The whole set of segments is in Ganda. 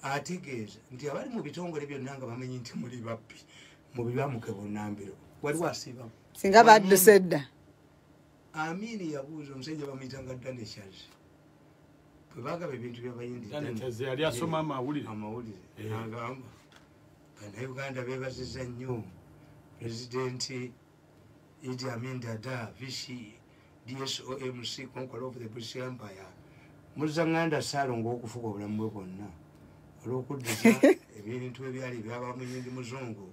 ategeeza nti abali mu bitongole byonna nga bamanyi nti muli babbi mubibamuke bunambiro waliwo asiibamu singa badduse edda amiini yabuuza omusajja bamuyita nga daneshaz bwebagaba ebintu byabayindiyali asoma amawulire amawulire eh. agamba banauganda bebaziza nnyo pulezidenti Idi Amin Dada, VC, DSOMC, Conqueror of the British Empire. Muza nganda salo ngokufuga obulamu bwe bwonna olw'okuddiza ebintu ebyali byaba muyindi muzungu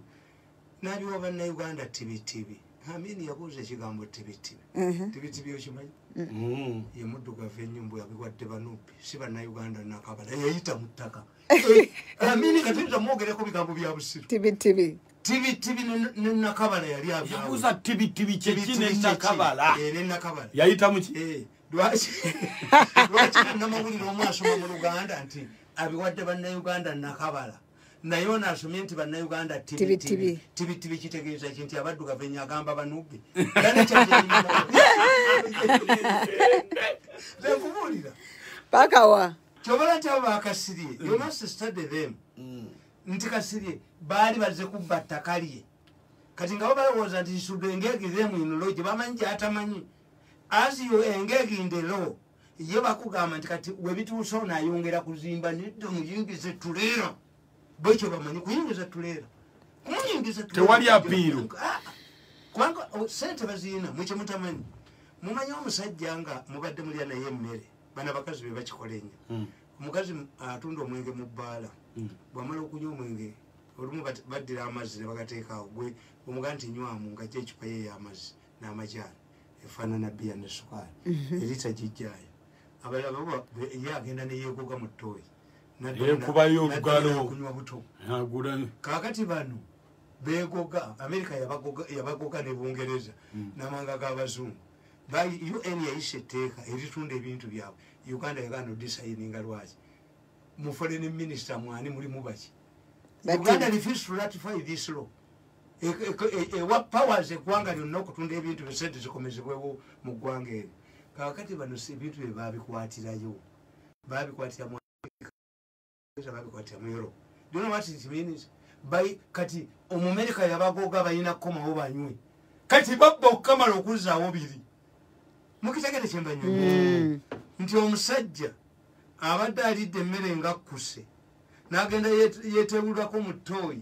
n'abiwa bannayuganda tibitibi amini yabuuza ekigambo tibitibi mhm. tibitibi okimanyi mhm. mm, ye muddugavu ennyo mbu yabiwadde banupi si bannayuganda nakabala yeyita mu ttaka eh, amini kati tamwogereko bigambo bya busiru tibitibi tibitibi nenakabala yali abuza tibitibi kyeki nenakabala eh, nenakabala yayita muki eh, lwaki lwaki namawulire omu asoma mu luganda nti abiwadde bannayuganda nakabala naye ono asomye nti bannayuganda tibitibi tibitibi kitegeeza ki nti abaddugavu enyo agamba banubi nkubuulira pakawa kyobala nti abo bakasirie yonasistade them mm. nti kasirye baali baze kubba ttaka lye kati nga babalowooza nti isudu engege themu in law gye bamanyi gyatamanyi as you engege in the law ye bakugamba nti kati webituusa ono ayongera kuzimba nedda muyingize tuleera bwekyo bamanyi kuyingiza tuleera kumuyingiza tewali apiiru ah, kubanga oh, sente baziina mwekyo mutamanyi mumanyi omusajja nga mubadde mulya naye emmere bana bakazi be bakikola enyo hmm. omukazi atunda omwenge mu bbaala hmm. bwamala okunywa omwenge olumu baddira amazzi nebagateekaawo gwe omugaa nti nywamu nga ky ecupa ye eyamazzi n'amajaani efaanana biya ne sukaali hmm. erita gijjayo abalaba ye agenda neyegoga mu ttooyi yekubayo olugalokunywa buto kakati bano begoga amerika yabagoga ne bungereza hmm. namanga g'abazungu bali un yayisa etteeka eritunda ebintu byabwe uganda yagaana odisayininga lwaki mu foreign minister mwani mulimu baki uganda refuse to ratify this law e, e, e, ewa powers eggwanga lyonna okutunda ebintu byosente zikomezebwewo mu ggwanga eryo kakati bano ebintu bye babikwatirayo babikwatira kati omumerika yabagoga balina kukomawo banywe kati babba okukamala okuzaawo biri mukitegere kyembanyo hmm. nti omusajja abadde alidde emmere ngakkuse n'agenda yetewulako mu tooyi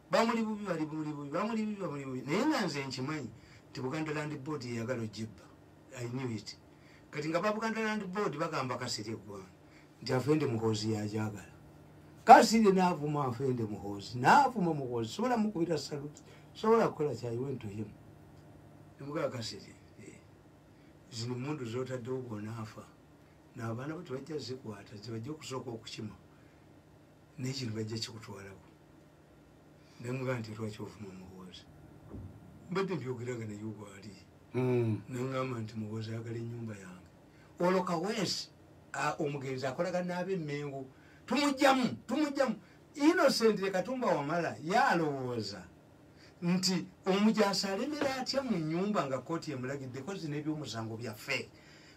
bamuli bubi bali buli bubi bamuli bibi bamuli bubi naye nga nze nkimanyi nti buganda land board yeyagala ojibba i knew it kati nga babuganda land board bagamba kasiri eggwanga nti afende muhoozi yajagala kasiri naavuma afende muhoozi naavuma muhoozi sobola mukubira salut sobola kukola kyayiwentuhimu emugaa kasiri eh, zino mundu zotaddewo bwonaafa naabaana bo tebajja zikwata zibajja okusooka okukima naye kino bajja kikutwalako namuga nti lwaki ovuma muwooza mbadde mbyogera nga naye obwali hmm. nangamba nti muwooza ayagala enyumba yange olwo kawesi omugenzi akolaga naaba emengo tumujjamu tumujjamu innocent lekatumba wamala yalowooza nti omujasi alemera atya mu nyumba nga kooti emulagidde kozi n'ebyomusango byaffe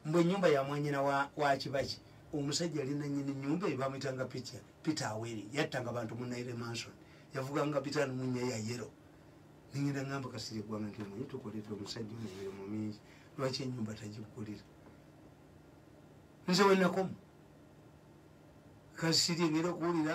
mbu enyumba yamwanyina wakibaki wa omusajja ali nanyini nyumba ebamwitanga picha peter aweri yattanga bantu munaire manson yavuganga peter numunya ya yero ningenda ngamba kasiri gwanga nti omanyi tukoleta omusajja omuire mu mingi lwaki enyumba tagigulira nze wenakomu kasiri ngenda okuwulira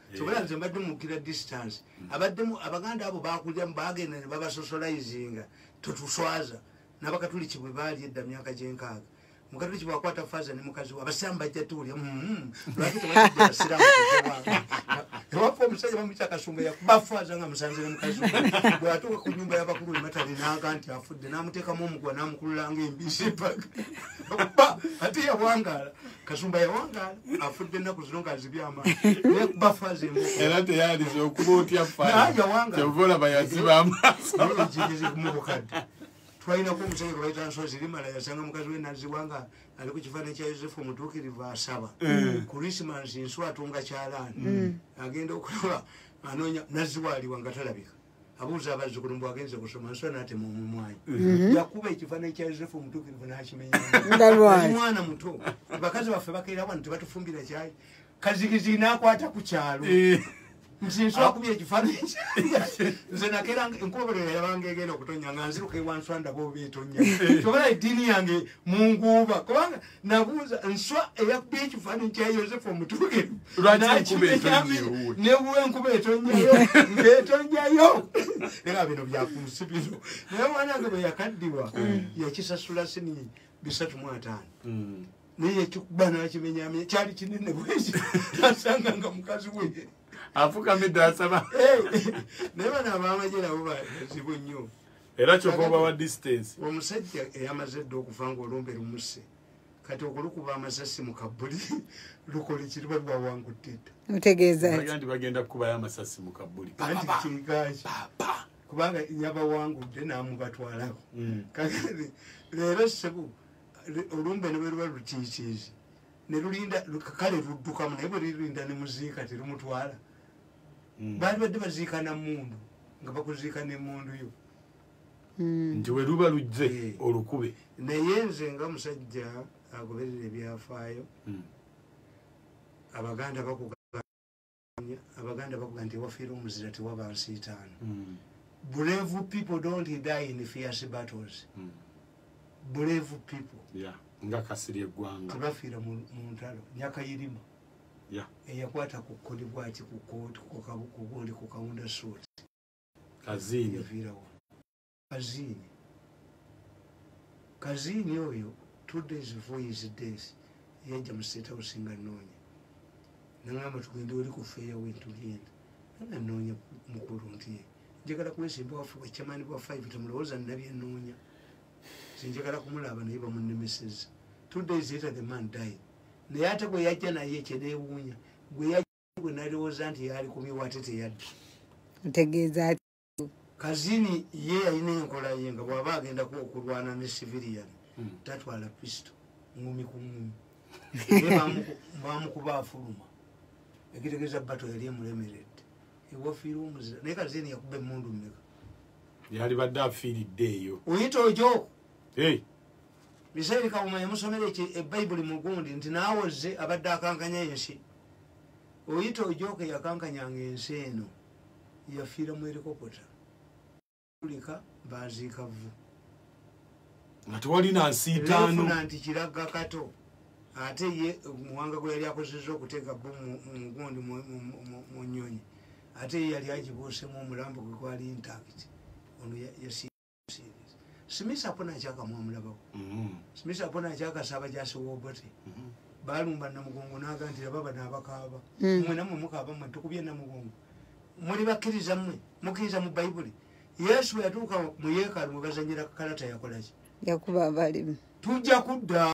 kyobola nze mbadde mukira distance abaddemu abaganda abo bakulyamu bagenda ne babasocializinga totuswaza nabakatuliki bwe baali edda myaka gyenkaaga mukatuliki bwakwata faza ne mukazi we abasiramu bajja tuwulya mm-hmm. lwaki tebasiramu ewafa omusajja bamuyita kasumba yakubafaza nga musanze ne mukazi we bweyatuuka ku nyumba yabakulu ematale naaga nti afudde namuteekamu omuguwa namukululanga embisi paka ate yawangaala kasumba yawangala afudde ennaku zino nga nzibye amaani era teyaliza okuba otya fakyova olaba yaziba amaasomubukadde twalinako omusajja gwe baita nsozi limala yasanga mukazi we naziwa nga ali ku kifaananyi kya yosefu omutuukirivu asaba mm. kurisimansi nsu atunga kyalaani mm. agenda okulaba anoonya naziwa aliwa nga talabika abuuza abazzukulu mbu agenze kusoma nso natema omumwanyi mhm. yakuba ekifaananyi kya yosefu omutuukirivu n'akimenyaomwana muto bakazi baffe bakeera wano tebatufumbira kyayi kazigizigi n'akwata ku kyalo eh. nsinsoakubye ah. ekifaananyi nze nakeera enkubaberera yabanga egenda okutonya nga nziruka ewanswandaba oba etonya eh. kyobola eddiini yange munguuba kubanga nabuuza nswa eyakubye ekifaananyi kya yosefu omutuukirivu nebuwa enkuba etonjayo ngaetonjayo naga bino byakunsi bino naye mwana ge bwe yakaddirwa mm. yakisasula sini bisatu mu ataano mm. naye yakikuba nakimenyamye kyali kinene bweki nasanga nga mukazi we afukamidde asaba naye bana abamaje nabo bazibu nnyo era kyova oba wa distance omusajja eyamaze dda okuva nga olumbe lumuse kati okulukuba amasasi mu kabuli lukola ekiri bali bawangudde dda mutegeezandi bagenda kukubayo amasasi mu kabuli anti kigaki kubanga yabawangudde namubatwalako mm. kakati leero sebu olumbe ne bweruba lutiitiizi ne lulinda kale luddukamu naye bwe lirinda ne muziika terumutwala hmm. bandibadde baziika na mundu nga bakuziika ne mundu yo hmm. nti weluba lujje eh. olukube naye nze nga musajja agoberera ebyafaayo hmm. abaganda bakuganya abaganda bakuga nti wafiire omuzira tewaba nsiitaano brave people don't die in fierce battles mm. brave people yeah. nga kasiri eggwanga tebafiira mu ntalo nyakayirima eyakwata ku kodi bwaki ku kooti kugundi ku kawunda suuti kaziiniyaviirawa kaziini kaziini oyo two days before his death yajja mu state house nga noonya nangamba tugende oli kufeeya wentugenda nga noonya mukulu nti njagala kwesimba wafe bwecamani bwa five temulowooza nabye noonya sinjagala kumulaba naye bamunemeseza two days later the man died naye ate gwe yajja naye kyenewuunya gwe yajja gwe nalowooza nti yaali kumiwa ate teyadda ntegeeza kazini ye yalina enkola ye nga bwaba agendako okulwana ne civilian hmm. tatwala pisto ngumi ku ngumi bamukuba afuluma ekitegeeza bato yali emulemeredde ewafiire omuzira naye kazini yakuba emundu mumeka yalibadde afiiridde eyo oyita ojo misairi kawuma yamusomera eki ebayibuli eh, mugundi nti nawoze abadde akankanya ensi oyita ojoka eyakankanyanga ensi eno yafiira mu erikopota ulika baziika vvu nga tewalina nsiitaanofuna nti kiragga kato ate ye muwanga gwe yali akozeza okuteeka bo mugundi mu nyonyi ate ye yali agibuusemu omulambo gwe gwali intakt ono yasi smith apona akyaka mwamulabako mm-hmm. smith apona akyaka saba gyasiwobote mm-hmm. balumba namugongo naga nti ababa nabakaaba mm. mwe namwe mukaaba mwe tukubye namugongo muli bakkiriza mwe mukkiriza mu bayibuli yesu yatuuka mu yeekalu mwe bazanyira kalata yakolaki yakuba abalimu tujja kudda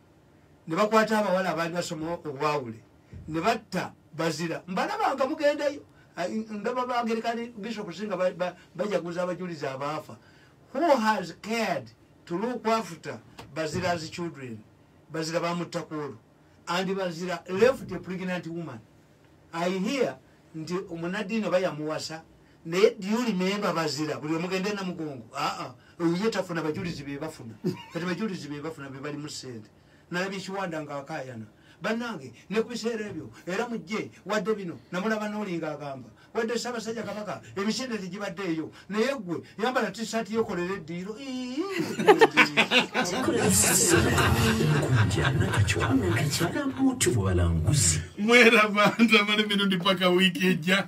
ne bakwata abawala abaali basoma obwawule ne batta bazira mbalabanga mugendayo ndaba bagerekani bishop singa bajaguza abajulizi abaafa who has cared to look after bazira's children bazira bamuttakuolo and bazira left a pregnant woman i hear nti omunadiini oba yamuwasa naye diuli memba bazira buli omugende namugongo aa oye tafuna bajulizi bebafuna kati bajulizi bebafuna bebali mu sente nalabye kiwanda nga akayana banange ne ku biseera ebyo era mujje wadde bino namulaba nolinga agamba wadde sabasajja kabaka emisinde tegibadde eyo naye gwe yambala tisaati yokolera eddiiro mwerabandamala emirundi paka wiiki ejja